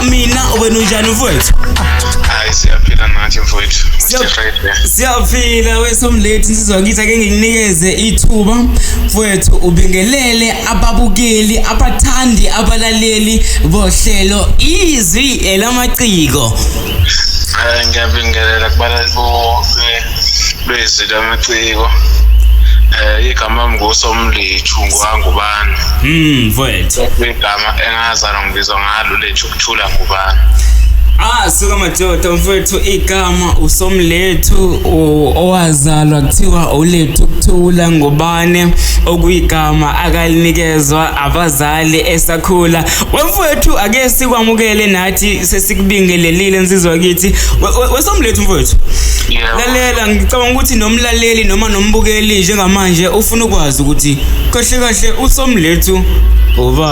mina wena unjani mfowethu hayi siyaphila nathi mfowethu siyaphila wesomlethi nsizwa ngithi ake ngikunikeze ithuba mfowethu ubingelele ababukeli abathandi abalaleli bohlelo izwi elamaciko eh, ngiyabingelela kubalali bonke lwezwi lamaciko eh igama mngusomlethu ngwangubani mm mfowethu igama engazana ngibizwa ngalo lethu ukuthula ngubani Ah suka madoda mfethu igama usomlethu owazalwa kuthiwa ulethu kuthula ngubane okuyigama akalinikezwa abazali esakhula wemfethu ake sikwamukele nathi sesikubingelelile nsizwa kithi wesomlethu mfethu lalela ngicabanga ukuthi nomlaleli noma nombukeli njengamanje ufuna ukwazi ukuthi kahle kahle usomlethu uba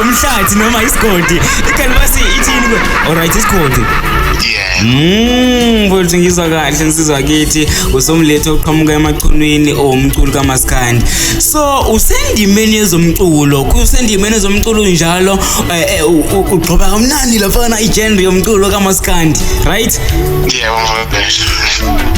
umhlathi noma isigodi ikhani basi ithini ke alright isigodi yeah mm mfowethu ngizwa kahle nsizwa kithi usomlethe oqhamuka emachunwini owumculo kamaskandi so usendimeni yezomculo kusendimeni yezomculo njalo eh, eh, ugxoba kamnandi lafana igenre yomculo kamaskandi right yebo mfowethu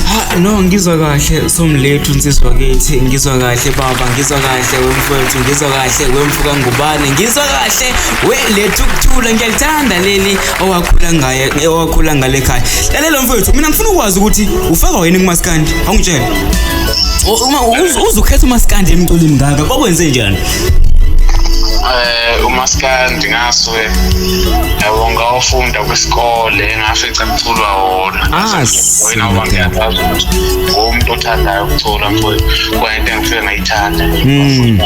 ha no ngizwa kahle somlethu nsizwa kithi ngizwa kahle baba ngizwa kahle wemfowethu ngizwa kahle kahle wemfuka ngubane ngizwa kahle we lethu kuthula ngiyalithanda leli owakhula ngaye owakhula ngale khaya lalela mfowethu mina ngifuna ukwazi ukuthi ufaka wena kumaskandi awungitshela uma uzukhetha umaskandi emculini ngaka kwakwenze njani eh umaskandi ngasuke yabo ngawufunda kwisikole ngafica kuculwa wona ah, wena wangiyakwazi ukuthi ngomuntu othandayo ukucula mfowethu kwayinto engifike ngiyamthanda Mm.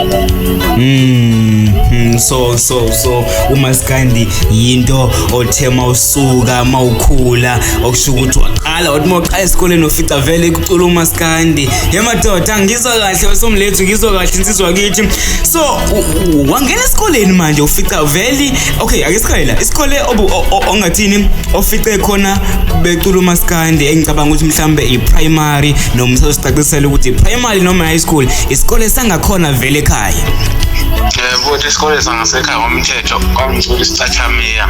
Mm, mm, so so so umaskandi yinto othe mawusuka mawukhula okusho ukuthi waqala wathi mawuqala esikoleni ofica vele kucula umaskandi ye madoda ngizwa kahle wesomlethu ngizwa kahle insizwa kithi so u- u- wangena esikoleni manje ufica vele okay ake siqale la isikole obu- o- o- ongathini ofice khona becula umaskandi engicabanga ukuthi mhlambe i-primary noma sasicacisela ukuthi i-primary imali noma high school isikole sangakhona vele ekhaya futhi isikole sangasekhaya ngomthetho kwangithola isicathamia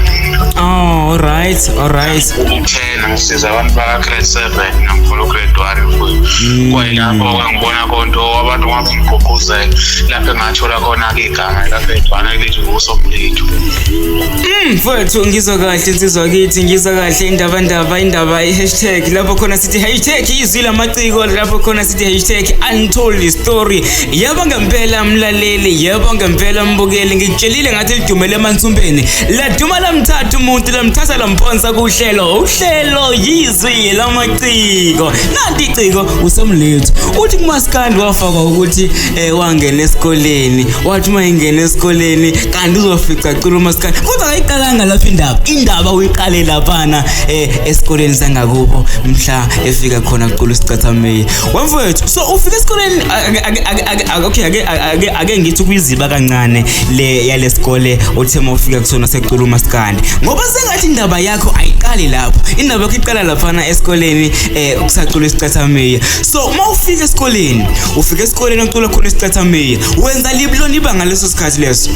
oh alright alright ten ngisiza abantu baka-grade seven nangifuna ugrade one hmm. kwayilapho kwangibona konto abantu ngapha ngigqugquzela lapho engathola khona-ke igama likagrade one lithi ngusomlitho hmm, mfowethu ngizwa kahle insizwa kithi ngizwa kahle indaba ndaba indaba i-hashtag lapho khona sithi hashtag izwi lamaciko lapho khona sithi hashtag untold story yebo ngempela mlaleli yebo ngempela mbukeli ngikutshelile ngathi lidumele emansumbeni laduma lamthatha umuntu lamthatha lamphonsa kuhlelo uhlelo yizwi lamaciko nanti iciko usemlethu uthi kumaskandi wafakwa ukuthi eh, wangena esikoleni wathi uma engena esikoleni kanti uzofica cula umaskandi kodwa kayiqalanga lapho indaba indaba uyiqale laphana eh, esikoleni sangakubo mhla efika khona kuqulu sicathamile wemfowethu so ufika esikoleni okay ake ake ake ngithi kuyiziba kancane le yalesikole othe mawufika kusona sequlu maskandi ngoba sengathi indaba yakho ayiqali lapho indaba yakho iqala laphana esikoleni eh kusacula isicathamile so uma ufika esikoleni ufika esikoleni ocula khona isicathamile wenza libulona ibanga leso sikhathi leso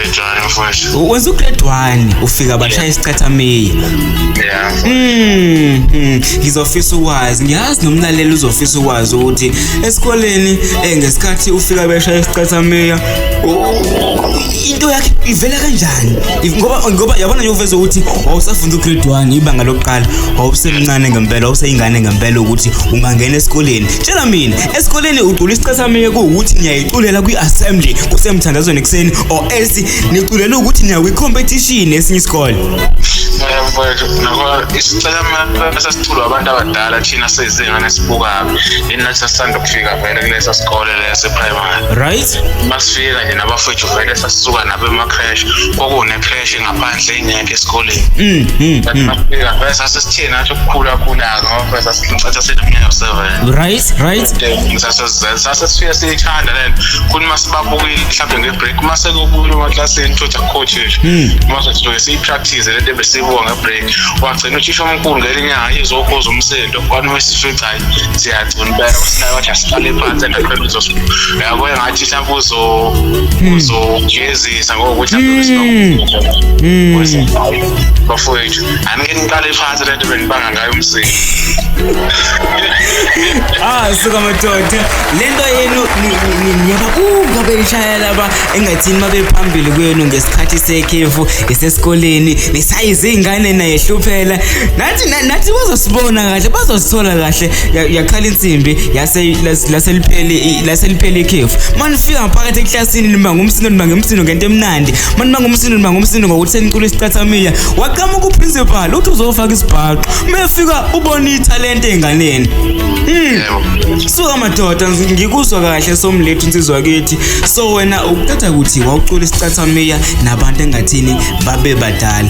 Njani mfowethu? U- Wenza ugrade 1 ufika bashaya isicathamile. Yeah. Mm, mm, ngizofisa ukwazi ngiyazi nomlaleli uzofisa ukwazi ukuthi esikoleni eh ngesikhathi ufika beshaya isicathamia u- into yakhe ivela kanjani If- ngoba ngoba yabona nje uveza ukuthi wawusafunda ugrade 1 ibanga lokuqala wawusemncane ngempela wawuseyingane ngempela ukuthi ungangena esikoleni tshela mina Esikoleni ucula isicathamile kuwukuthi niyayiculela kwi-assembly kusemthandazweni ekuseni or else niculela ukuthi niya kwi-competition esinye isikole. mfowethu nabo isicathamile sasiculwa abantu abadala thina sezingane sibukayo yini nathi sasithanda ukufika vele kuleso sikole leso e-primary Right? masifika nje nabafowethu vele sasisuka nabo ema-crash kwakune-crash phandle ingekho esikoleni mm, mm, mm. bese asesithini athi ukukhula khula ngoba bese sicatha sinomnyaka u-7 right right sasesifike siyithanda le nto kuthi uma sibabukile mhlawumbe ngebreak uma sekubuyile emaklasini thothi akucoach uma sesifike siyipractice le nto ebesiyibuka ngebreak wagcina uthisha omkhulu ngelinye inyanga izokhoza umsindo kwani wesifica hayi siyagcina impela kwasinayo wathi asihlale phansi and akhona uzosiyabo engathi mhlawumbe uzo uzoje ezisa ngokuthi hmm. hmm. bafowethu anike niqale phansi lento benibanga ngayo umsini ah suka madoda lento yenu ngiyababuka beyishaya laba engathini mabephambili kwenu ngesikhathi sekhefu esesikoleni nisayize ingane naye hluphela nathi nathi bazosibona kahle bazosithola kahle yakhala insimbi yase laseliphele laseliphele ikhefu manifika phakathi esini nima ngumsindo nima ngumsindo ngento emnandi mani nima ngumsindo nima ngumsindo ngokuthi senicula isicathamiya waqhamuka uprincipal uthi uzofaka isibhaxo mefika ubona ithalente enganeni mm. suka madoda ngikuzwa kahle somlethu insizwa kithi so wena ukuthatha ukuthi wawucula isicathamiya nabantu engathini babe badala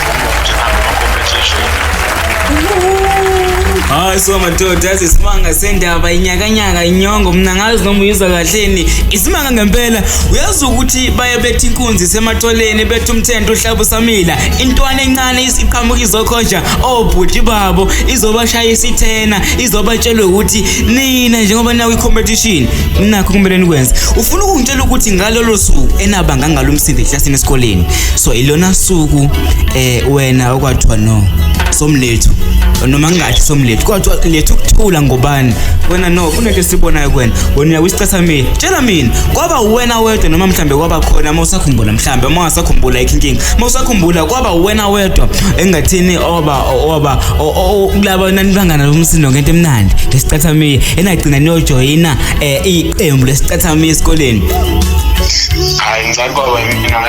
hayi so madoda yazi isimanga sendaba inyakanyaka inyongo mna ngazi noma uyizwa kahleni isimanga ngempela uyazi ukuthi baye bethi inkunzi sematholeni bethi umthento uhlaba usamila intwana encane isiqhamuka izokhonja obhuti oh, babo izobashaya isithena izobatshela ukuthi nina njengoba nawe i-competition nakho kumele nikwenze ufuna ukungitshela ukuthi ngalolo suku enabanga ngalomsindo ehlasini esikoleni so ilona suku eh wena okwathiwa no somlethu noma kungathi somlethu kodwa lethu ukuthula ngobani wena no kunento esibonayo kwena wena uyisicatha mina tshela mina kwaba wena wedwa noma mhlambe kwaba khona uma usakhumbula mhlambe uma ungasakhumbula ayikho inkinga uma usakhumbula kwaba wena wedwa engathini oba oba kulaba nanibangana lomsindo ngento emnandi lesicatha mina enagcina niyojoyina eh, iqembu lesicatha mina esikoleni hayi ngicabanga mina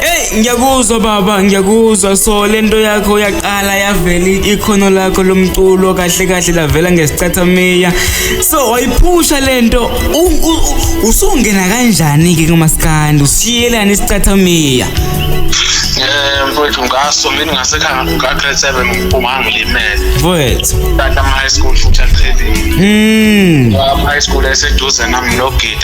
Hey ngiyakuzwa baba ngiyakuzwa so lento yakho yaqala yavela ikhono lakho lomculo kahle kahle lavela ngesicathamiya so wayiphusha lento usungena kanjani ke kumaskandi usiyelani isicathamiya Eh mfowethu ngaso mina ngasekhaya nga grade 7 ngiphuma ngilimele. Mfowethu. Tata high school futhi aliphelile. Mm. High school eseduze nami no Gidi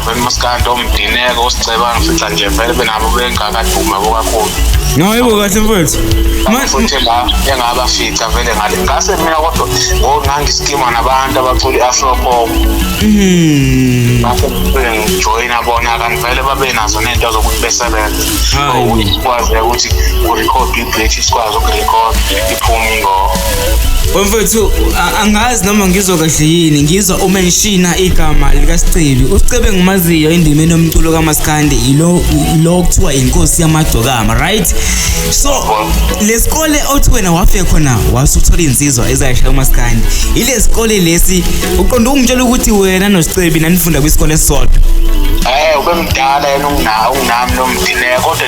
vele umaskandi omdineko osiceba ngifica nje vele benabo bengakaduma bokakhulu ngayebo kahle mfowethu futhi la engabafica vele ngale ngase mina kodwa ngangisikima nabantu abacula i-afropop mhm. ngijoyina bona kanti vele babenazo nento zokuthi besebenze kwazi ukuthi urekhode i-british kwazi ukurekhode Phumi ngo. Wemfethu a- angazi noma ngizwa kahle yini ngizwa uma ngishina igama likaSicebi. USicebi engimaziyo endimeni yomculo kaMaskandi yilo lo kuthiwa inkosi yamagcokama, right? So lesikole othi wena wafika khona wasuthola insizwa ezayishaya uMaskandi. Ilesikole lesi uqonda ukungitshela ukuthi wena noSicebi nanifunda kwisikole esisodwa. Eh ubemdala yena ungunawo unami nomthine kodwa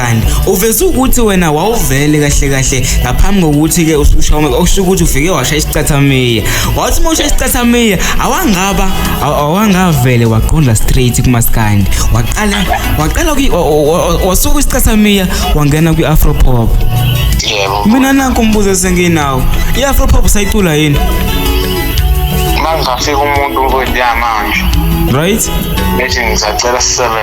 kanti uveze ukuthi wena wawuvele kahle kahle ngaphambi kokuthi ke ususha uma okusho ukuthi ufike washa isicathamia wathi uma usha isicathamia awangaba awangavele waqonda straight kumaskandi waqala waqala wasuka isicathamia wangena kwi afro pop yebo mina nanku umbuzo esenginawo i afro pop sayicula yini mangafika umuntu nkosi yamanje right bethi ngisacela sisebenze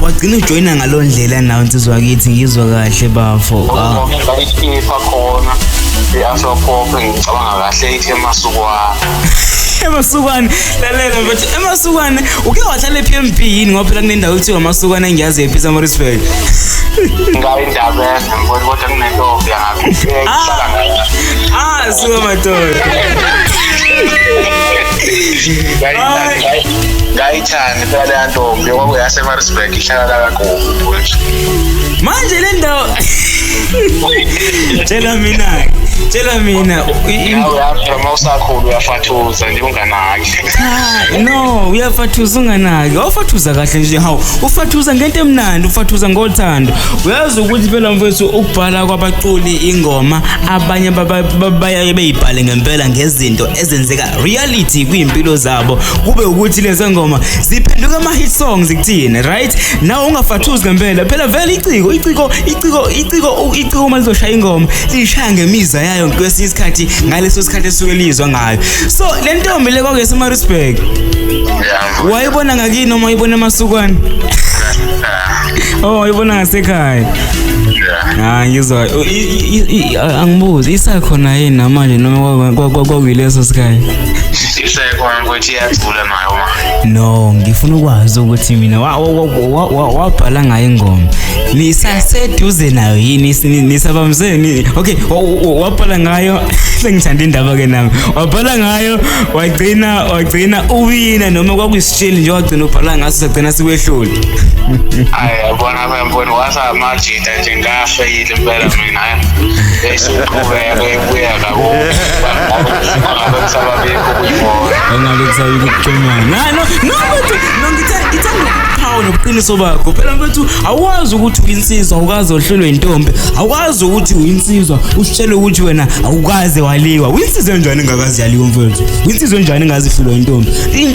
wagcina ujoyina ngalo ndlela nawo nsizwa wakithi ngizwa kahle bafo ah. ngayiphipha khona i-afropop ngicabanga kahle ithi emasukwana emasukwane lalela mfethu emasukwane uke wahlala ephi emb yini ngoba phela kunendawo kuthiwa amasukwane engiyazi ephi samarisburg ngayindabeza ngibona kodwa kunentombi yangakuhlala ah. ngayo ah suka madoda ngayithanda yaleya ntombi kwakuyasemarisburg ihlala la kagogo manje le ndawo tshela mina-ke tshela mina u- i- im- uyafika uma usakhulu uyafathuza nje unganaki Cha, no uyafathuza unganaki awufathuza kahle nje hawu ufathuza ngento emnandi ufathuza ngothando uyazi ukuthi phela mfethu ukubhala kwabaculi ingoma abanye baba- baba- bayaye beyibhale ngempela ngezinto ezenzeka reality kwimpilo zabo kube ukuthi lezo ngoma ziphenduka ama hit songs kuthina right nawe ungafathuzi ngempela phela vele iciko iciko iciko iciko iciko uma lizoshaya ingoma lishaya ngemiza yayo kwesinye isikhathi ngaleso sikhathi esuke lizwa ngayo so le ntombi le kwakuyesemarisburg wayibona ngakini noma wayibona emasukwane Oh, uyibona ngasekhaya. Ah, ngizwa. U- i- i- i- i- Angibuzi isakhona yini namanje noma kwa- kwa- kwa- kwakuyileso sikhaya? isekhona ukuthi iyacula nayo ma No, ngifuna ukwazi ukuthi mina wa- wa- wa- wa- wa- wabhala ngayo ingoma. Nisaseduze nayo yini Nis- ni- nisabamze ni Okay, wa- wa- wabhala ngayo sengithanda indaba ke nami. Wabhala ngayo wagcina wagcina uwina noma kwakuyi sheli nje wagcina ubhala ngaso sagcina sikwehlule hayi yabona bemboni wasamajita nje ngafeyile impela mina hayi besiqhubeka ibuya kakubangabe kusababikho kuyibona engabe kusabikho kuconyana no no mfethu no ngithe ngithe hawu nobuqiniso bakho phela mfethu awazi ukuthi uyinsizwa awukaze ohlulwe intombi awazi ukuthi uyinsizwa usitshele ukuthi wena awukaze waliwa uyinsizwe njani engakazi yaliwa mfethu uyinsizwe njani engazihlulwa intombi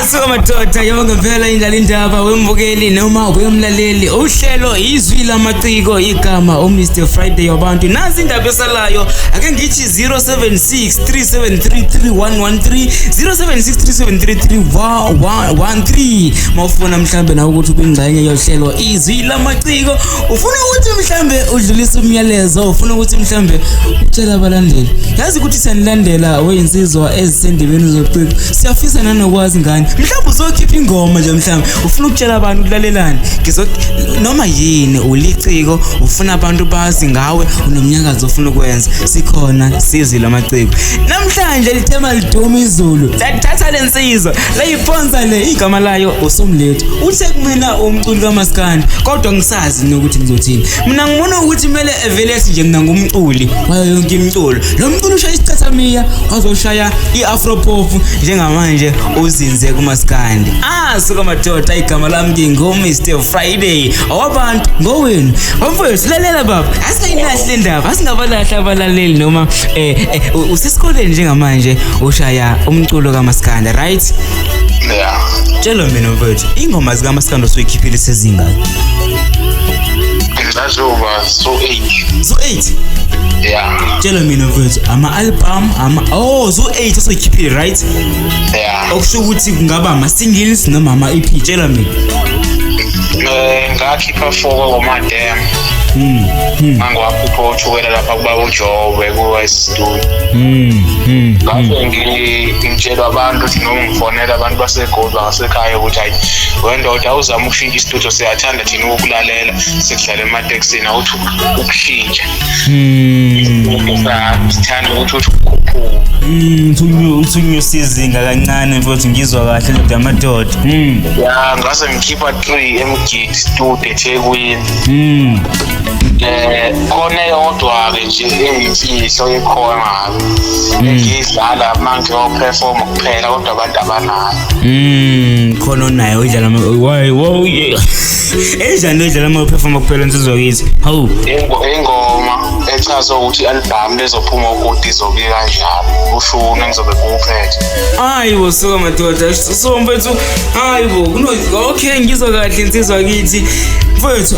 asikomadoda yonke vela indlala indaba wembukeli noma wemlaleli uhlelo izwi lamaciko igama umr friday wabantu nazi indaba esalayo ake ngithi 0763733113 0763733113 mawufuna mhlambe nawe ukuthi ubingxenye yohlelo izwi lamaciko ufuna ukuthi mhlambe udlulise umyalezo ufuna ukuthi mhlambe utshela abalandeli sikuthi senilandela weyinsizwa ezisendebeni zocwixo siyafisa nanokwazi ngani mhlawumbe uzokhipha ingoma nje mhlawumbe ufuna ukutshela abantu ukulalelani noma yini uliciko ufuna abantu bazi ngawe unomnyakazi ofuna ukwenza sikhona sizile amaciko namhlanje lithema liduma izulu lathatha le nsizwa layiphonsa le igama layo usomlethu uthe kumina umculi kamaskandi kodwa ngisazi nokuthi ngizothini mina ngibona ukuthi kumele Velesi nje mina ngumculi wayo yonke imculo lo mculo ushaya isicathamia wazoshaya i-afro pop njengamanje uzinze kumaskandi ah suka madoda igama lami ngingumr friday owabantu ngowenu omfowethu lalela baba asingayilahli le ndaba asingabalahli abalaleli noma eh, eh usesikoleni njengamanje ushaya umculo kamaskandi right yeah tshela mina mfowethu ingoma zikamaskandi osuyikhiphile sezingaki ngizazoba so 8 so 8 yeah tshela mina mfethu ama album ama oh so 8 asokhiphe right yeah okusho ukuthi kungaba ama singles noma ama EP tshela mina eh, ngakhipha foko ngomadem hmm, hmm. angiwakhupha uthukela lapha kuba ujobe kuwestudio hmm, ngase ngitshela abantu ukuthi noma ngifonela abantu basegoli bangasekhaya ukuthi hayi wendoda awuzama ukushintsha istudio siyathanda thina ukulalela ematekisini awuthi ukushintsha sithanda ukuthi uthi ukukhuphuka uthunyusa izinga kancane futhi ngizwa kahle ndoda yamadoda hmm. ya ngase ngikhipha three emgidi stude ethekwini um khona eyodwa-ke nje engimfihlo ekhona hmm. engiyidlala manje operforma kuphela kodwa abantu abanayo um khona onayo idlala enjani lendlela uma uphefoma kuphela nsizwa kithi hawu ingoma echaza ukuthi albhamu lezophuma ukoti izobe kanjani ushuni ngizobe kuwuphethe hayi bo suka madoda so mfethu hayi bo okay ngizwa kahle nsizwa kithi mfethu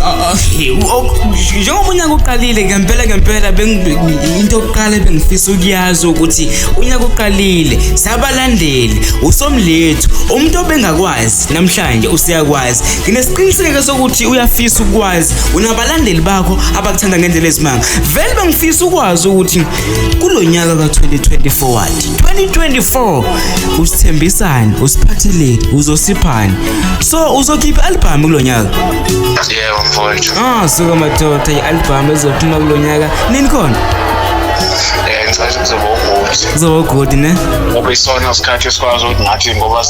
njengoba unyaka uqalile ngempela ngempela into yokuqala ebengifisa ukuyazi ukuthi unyaka uqalile sabalandeli usomlethu umuntu obengakwazi Podcast namhlanje useyakwazi. Nginesiqiniseko sokuthi uyafisa ukwazi unabalandeli bakho abakuthanda ngendlela ezimanga. Vele bangifisa ukwazi ukuthi kulonyaka ka2024 wathi 2024 usithembisani, usiphatheleni, uzosiphani. So uzokhipha album kulonyaka. Yebo mfowethu. Ah, suka madoda i-album ezophuma kulonyaka. Nini khona? Eh, ngicela ukuzoba ukuthi. Kuzoba good ne? Ngoba isona isikhathi esikwazi ukuthi ngathi ngoba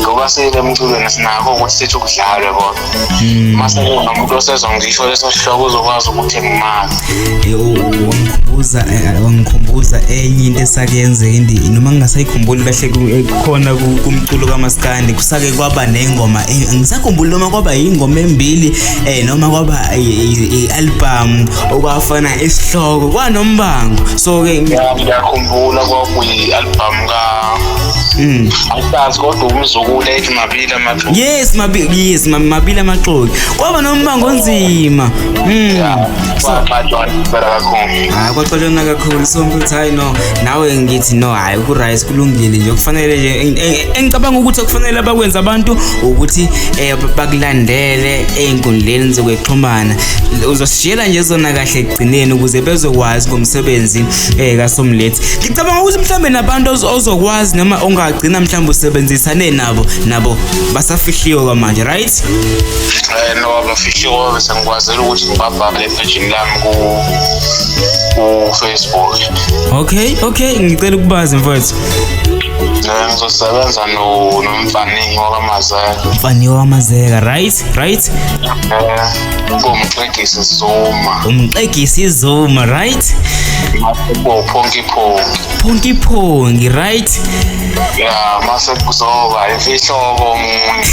ngoba sile emculweni sinako ukuthi sithi ukudlalwe bona hmm. uma sekunomuntu osezwa ngisho leso sihloko uzokwazi ukuthi ngimali wangikhumbuza eh, wangikhumbuza enye into esakuyenzeka indi noma ngingasayikhumbuli kahle eh, khona kumculo kamaskandi kusake kwaba nengoma eh, angisakhumbuli noma kwaba yingoma embili eh noma kwaba i-album okwafana isihloko kwanombango so ke ngiyakhumbula kwakuyi-album cha Mm. angisazi kodwa umzukulu ethi mabili amaxoki Yes mabili yes ma- mabili amaxoki. Kwaba nombango onzima. Mm. So kwaxatshwa impela kakhulu hayi kwaxolona kakhulu so ngithi hayi no nawe ngithi no hayi ukuright kulungile nje kufanele nje eng- eng- engicabanga ukuthi akufanele abakwenza abantu ukuthi eh, bakulandele ey'nkundleni zokwexhumana uzosishiyela nje zona kahle ekugcineni ukuze bezokwazi ngomsebenzi eh kaSomlethi ngicabanga ukuthi mhlambe nabantu ozokwazi noma ongagcina mhlambe usebenzisane nabo nabo basafihliwe kwamanje right eh no abafihliwe bese ngikwazela ukuthi ngibabhale epage lami ku ku Facebook okay okay ngicela ukubazi mfowethu ngizosebenza nomfaniyo wakamazeka mfaniyo wakamazeka right right ngomxegisi zuma umxegisi zuma right bo phonki phonki phonki phonki right ya mase kuzoba imfihlobo umuntu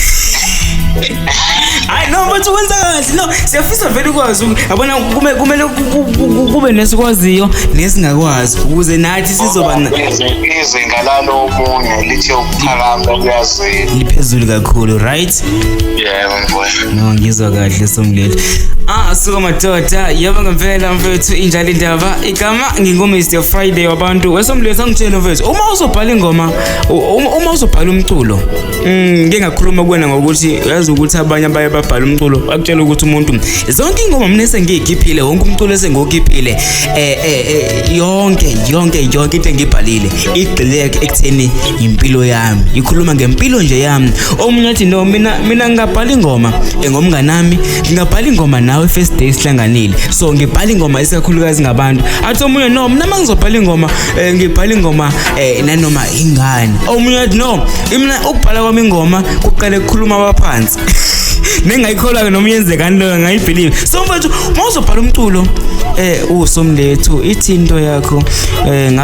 hayi no mfethu wenza kahle no siyafisa vele ukwazi yabona kume kumele kube nesikwaziyo nesingakwazi ukuze nathi sizoba izinga lalo omunye lithe ukuphakama kuyazini liphezulu kakhulu right yebo mfowethu no ngizwa kahle somleli ah suka madoda yebo ngempela mfethu injalo indaba igama nginguMr Friday wabantu wesomleli sangitshela mfethu uma uzobhala ingoma u- uma uma uzobhala umculo mm, ngike ngakhuluma kuwena ngokuthi uyazi ukuthi abanye abaye babhala umculo bakutshela ukuthi umuntu zonke ingoma mina esengiyikhiphile wonke umculo esengokhiphile eh eh eh, yonke yonke yonke into engibhalile igxileke ekutheni impilo yami ikhuluma ngempilo nje yami omunye athi no mina mina ngingabhala ingoma engomnganami ngingabhala ingoma nawe first day sihlanganile so ngibhala ingoma isikakhulukazi ngabantu athi omunye no mina mangizobhala ingoma eh, ngibhala ingoma eh, nanoma ingane omunye athi no mina ukubhala kwami ingoma kuqale kukhuluma abaphansi nengayikholwa ke noma yenzekani leyo ngayibelieve so mfethu mawuzobhala umculo eh usomlethu ithi into yakho eh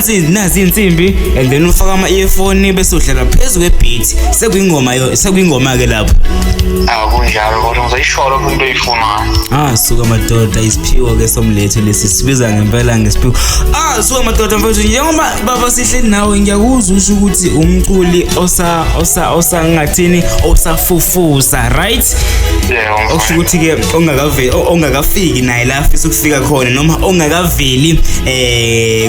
phansi nazi insimbi and then ufaka ama earphone bese udlala phezu kwe beat sekuyingoma yo sekuyingoma ke lapho akunjalo kodwa ngizoyisholo umuntu oyifunayo ah suka madoda isiphiwo ke somlethu lesi sibiza ngempela ngesiphiwo ah suka madoda mfowethu njengoba baba sihleli nawe ngiyakuzwa usho ukuthi umculi osa osa osa ngathini osafufusa right yeah okusho ukuthi ke ongakaveli ongakafiki naye la afisa ukufika khona noma ongakaveli eh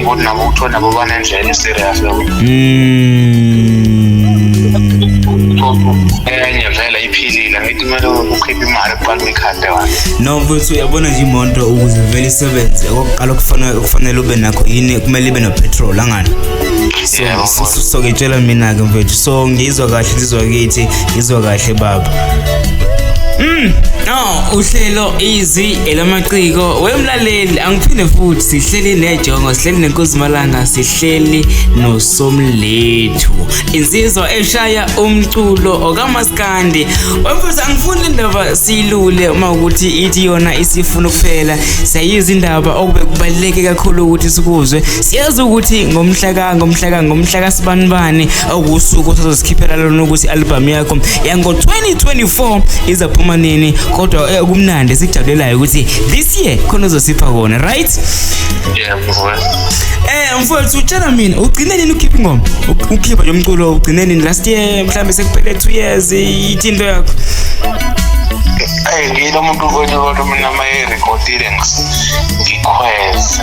Ngokuthi nabo kuthiwa nabo banendlela eserious nabo. Enye vele iphilile ngithi kumele ukhiphe imali kuqala uyikhande wani. No mfethu uyabona nje imoto ukuze vele isebenze okokuqala okufanele okufanele ube nakho yini kumele ibe nopetrol angani. So Yebo, so- so- so ngitshela mina ke mfethu so ngizwa kahle ngizwa kithi ngizwa kahle baba. Mm, no uhlelo easy elamaciko wemla Laleli angiphinde futhi sihleli nejongo sihleli nenkuzimalanga sihleli nosomlethu insizwa eshaya umculo okamaskandi wemfuthi angifuni indaba silule uma ukuthi ithi yona isifuna ukuphela siyayiza indaba okube kubaluleke kakhulu ukuthi sikuzwe siyazi ukuthi ngomhlaka ngomhlaka ngomhlaka sibanibani okuwusuku osazozikhiphela lona ukuthi i-albhamu yakho yango-2024 izaphuma nini kodwa eh, kumnandi esikujabulelayo ukuthi this year khona uzosipha kona right Yeah, mfowethu. um mfowethu utshela mina ugcine nini ukhipha ingoma Uk- ukhipha nje umculo ugcine nini last year mhlawumbe sekuphele two years ithi into yakho Ayi ngiyilo muntu mfowethu kodwa mina mayerekhodile ngikhweze.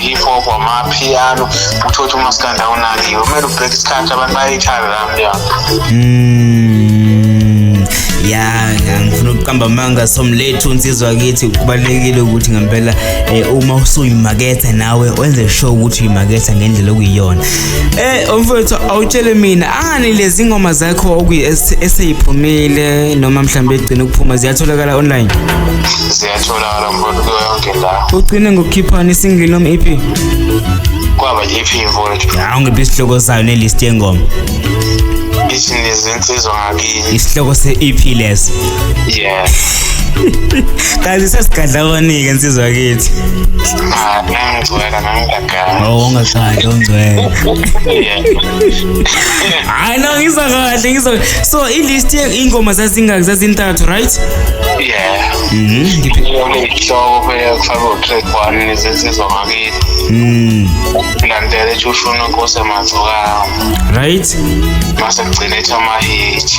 hip hop amapiano uthothi umaskanda unakiwe kumele ubheke isikhathi abantu bayayithanda la mnyango mm, ya ngifuna ukuqamba amanga somlethu unsizwa kithi kubalulekile ukuthi ngempela eh, uma usuyimaketha nawe wenze sure ukuthi uyimaketha ngendlela okuyiyona eh mfowethu awutshele mina angani lezi ngoma zakho okuyiseyiphumile noma mhlawumbe egcina ukuphuma ziyatholakala online ziyatholakala Alamboni kuyo yonke la. Ugcine ngokukhiphana isingle noma EP? Kwaba i-EP mfowethu. Hawu ngiphi isihloko sayo nelist yengoma? Ithi nezinsizwa ngakini. Isihloko se-EP lesi. Yeah. Kazi sesigadla abanike insizwa kithi. Ah, ngangigcwela ngangigagala. Oh, ungagcwala ungcwele. Hayi no ngizwa kahle ngizwa. So i-list ingoma zazingaki zazintathu right? Yeah. Mhm. Ngiphi- Ihloko beyakufaka utrigwane nezizizwa ngakithi. Mm. Landela ethi ushona inkosi emazokawo. Right? Mase kugcina ethi amahithi.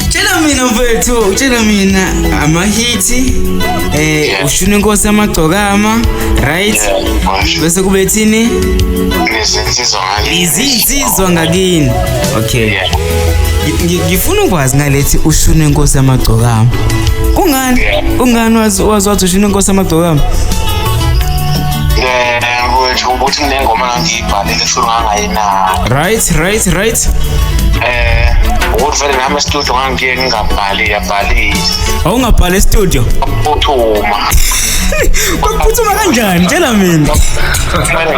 Tshela mina mfethu, tshela mina amahithi eh Yeah. ushuna inkosi amagcokama, right? Yeah, manje. Bese kube thini? Nezizizwa izinsizwa ngakini okay yeah. ngifuna ukwazi ngalethi ushune inkosi yamagcokama kungani kungani wazi wazi wathi ushune inkosi yamagcokama nje ukuthi kunengoma ngangiyibhalile futhi ngangayinaki right right right eh ukuthi vele nami estudio ngangiye ngingabhali yabhalile awungabhali estudio uphuthuma kwakuphuthuma kanjani tshela mina kumele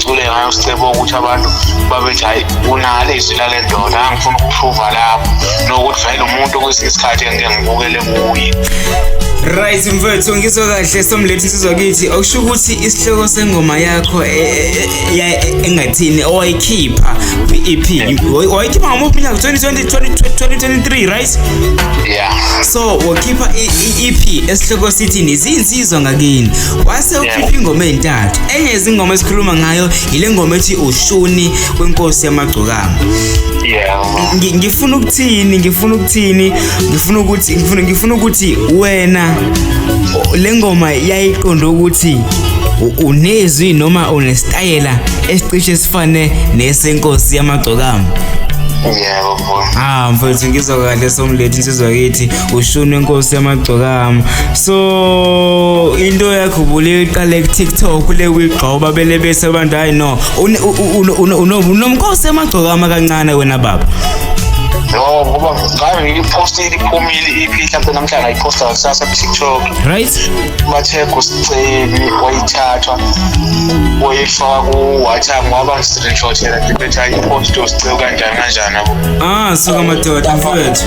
ngicule ngayo sicebo ukuthi abantu babethi hayi kunale izwi lale ndoda angifuna ukuphuva lapho nokuthi vele umuntu kwesinye isikhathi engike ngibukele kuye right mfethu ngizwe kahle somlethu sizwa kithi okusho ukuthi isihloko sengoma yakho e, e, e, engathini owayikhipha kwi-ep wayikhipha ngamuphi unyaka 2023 right yeah so wakhipha i-ep esihloko sithini ziyinsizwa ngakini wase ukhipha ingoma ezintathu enye izingoma esikhuluma ngayo ile ngoma ethi ushuni kwenkosi yamagcokama ngifuna ukuthini ngifuna ukuthini ngifuna ukuthi ngifuna ngifuna ukuthi wena le ngoma yayiqonda ukuthi unezwi noma unesitayela esicishe sifane nesenkosi yamagcokama yebo mfowethu ah mfowethu ngizwa kahle somlethu insizwa kithi ushunwe nkosi yamagcokama so into yakho ubule iqale kuTikTok le wigxoba bele bese abantu hayi no unomkhosi yamagcokama kancane wena baba no ngoba ngayo ngiyipostile iphumile iphi mhlawumbe namhlanje ayiposta kusasa ku-tiktok right bathega usicebi wayithathwa wayifaka ku-whatsapp waba screenshot yena ngibethi ayiposte usicebi kanjani kanjani abo ah suka madoda mfowethu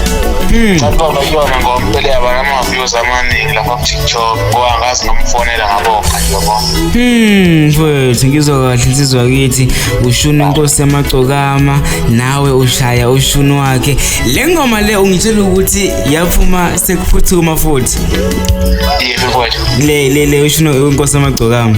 hmm. cababa kuyona ngoba impela yaba nama-views amaningi lapha kutiktok ngoba ngazi nomfonela ngabonga yabo hmm, mfowethu ngizwa kahle insizwa kithi ushuni inkosi yamagcokama nawe ushaya ushuni wakhe le ngoma le ungitshela ukuthi yaphuma sekuphuthuma futhi le le le ushuni inkosi yamagcokama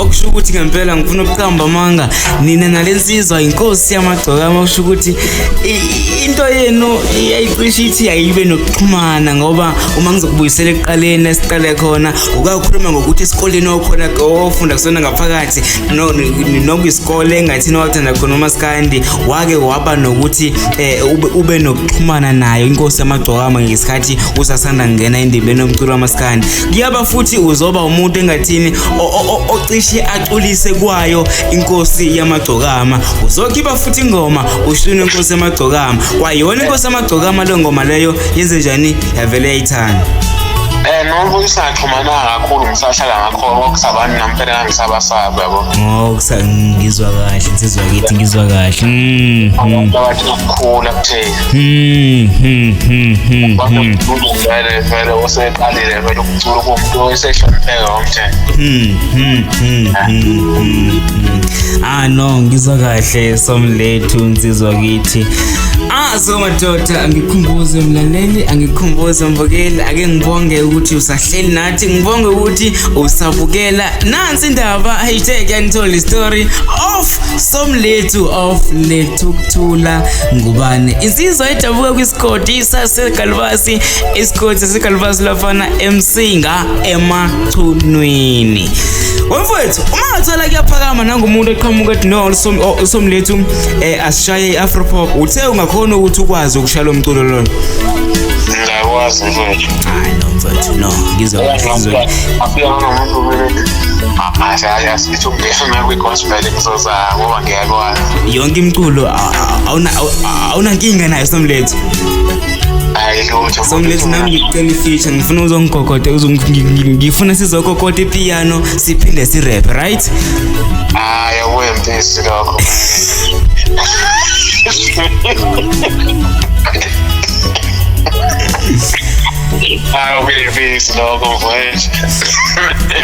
okusho ukuthi ngempela ngifuna ukuqamba amanga nina nale nsizwa inkosi yamagcokama okusho ukuthi i- into yenu iyayicisha ithi ayibe nokuxhumana ngoba uma ngizokubuyisela ekuqaleni esiqale khona ukakhuluma ngokuthi esikoleni okhona ofunda kusona ngaphakathi no- ni- noma isikole engathini wathanda khona umaskandi wake waba nokuthi eh, ube- ube nokuxhumana nayo inkosi yamagcokama ngesikhathi usasanda kungena endibeni yomculo wamaskandi ngiyaba futhi uzoba umuntu engathini ocishe aculise kwayo inkosi yamagcokama uzokhipha futhi ingoma ushune inkosi yamagcokama kwayona inkosi yamagcokama le ngoma leyo yenze njani yavele yayithanda Eh noma uyisaxhumana kakhulu ngisahlala ngakho okusabani nampela ngangisabasaba yabo. Ngokusa ngizwa kahle insizwa kithi ngizwa kahle. Mhm. Abantu abathi ukukhula kuthe Hmm, hmm, hmm, hmm, Kodwa hmm, umculo vele vele oseqalile vele umculo komuntu osehlonipheke ngomthetho. hmm, hmm, hmm, hmm, hmm, hmm. ah no ngizwa kahle somlethu nsizwa kithi ah so madoda angikhumbuze mlaleli angikhumbuze mbukeli ake ngibonge ukuthi usahleli nathi ngibonge ukuthi usabukela nansi indaba hashtag yanithola story of somlethu of lethukuthula ngubane insizwa edabuka kwisikoti isasegalubasi isikoti sasegalubasi lafana emsinga emachunwini wemfowethu uma ngathola kuyaphakama nangumuntu eqhamuka ethi no usomlethu um eh, asishaye i-afropop uthe ungakhona ukuthi ukwazi ukushaya lo mculo lona ngiyakwazi mfowethu hayi no mfowethu no ngizwa ngizwa akuya nomuntu kumele athi hayi ngithi ungifuna kwi-gospel ngizoza ngoba ngiyakwazi yonke imculo awunankinga nayo somlethu hayi lutho somlethu nami ngikucela ifeature ngifuna uzongigogode ngifuna sizogogode ipiano siphinde sirap right hayi awuyempisi lokho I'll be a beast, dog, on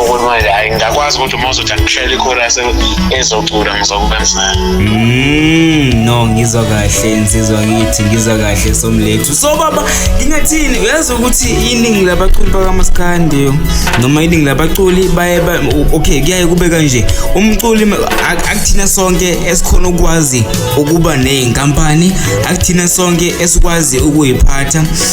ukuthi manje hayi ngingakwazi ukuthi uma uzothi angishayele ikhora ezocula ngizokubenzela mm, no ngizwa kahle insizwa ngithi ngizwa kahle somlethu so baba ngingathini uyazi ukuthi iningi labaculi bakamaskandi noma iningi labaculi baye okay kuyaye kube kanje umculi akuthina sonke esikhona ukwazi ukuba nezinkampani akuthina sonke esikwazi ukuyiphatha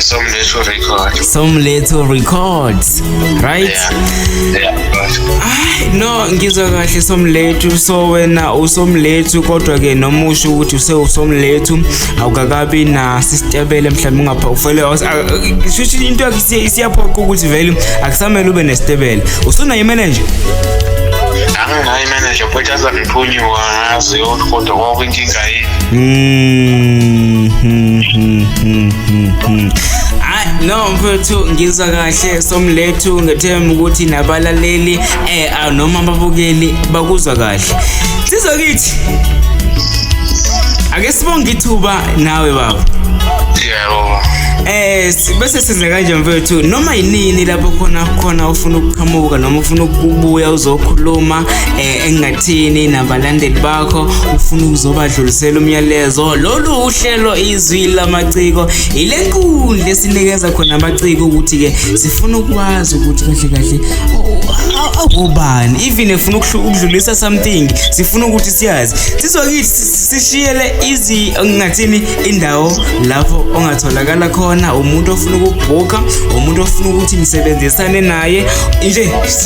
Somletho Records. Somletho Records. Right? Yeah. yeah. Ay, no ngizwa kahle Somlethu so wena usomlethu kodwa ke noma usho ukuthi use usomlethu awukakabi na sistebele mhlawumbe ungapha ufele shuthi into yakhe siyaphoqa ukuthi vele akusamele ube nesitebele. Usuna imanager? Anginayo imanager futhi azangiphunyuka ngazi yonke kodwa kwakuyinkinga yini. Mm, mm, mm, mm, mm, mm. Ay, no mfethu ngizwa kahle somlethu ngethemba ukuthi nabalaleli eh ah, noma ababukeli bakuzwa kahle sizwa kithi ake sibonge ithuba nawe baba yebo Eh si- bese size kanje mfethu noma yinini lapho khona khona ufuna ukuqhamuka noma ufuna ukubuya uzokhuluma eh engathini nabalandeli bakho ufuna ukuzobadlulisela umyalezo lolu uhlelo izwi lamaciko ile nkundla esinikeza khona amaciko ukuthi-ke sifuna ukwazi ukuthi kahle kahle awubani even efuna ukudlulisa something sifuna ukuthi siyazi sizokithi sishiyele izi ngathini indawo lapho ongatholakala khona umuntu ofuna ukubhukha umuntu ofuna ukuthi nisebenzisane naye nje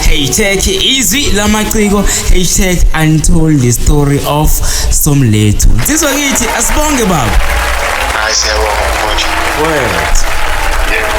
hashtag izwi lamaciko hashtag untold the story of somlethu nsizwa kithi asibonge baba hayi siyabonga mfowethu word yebo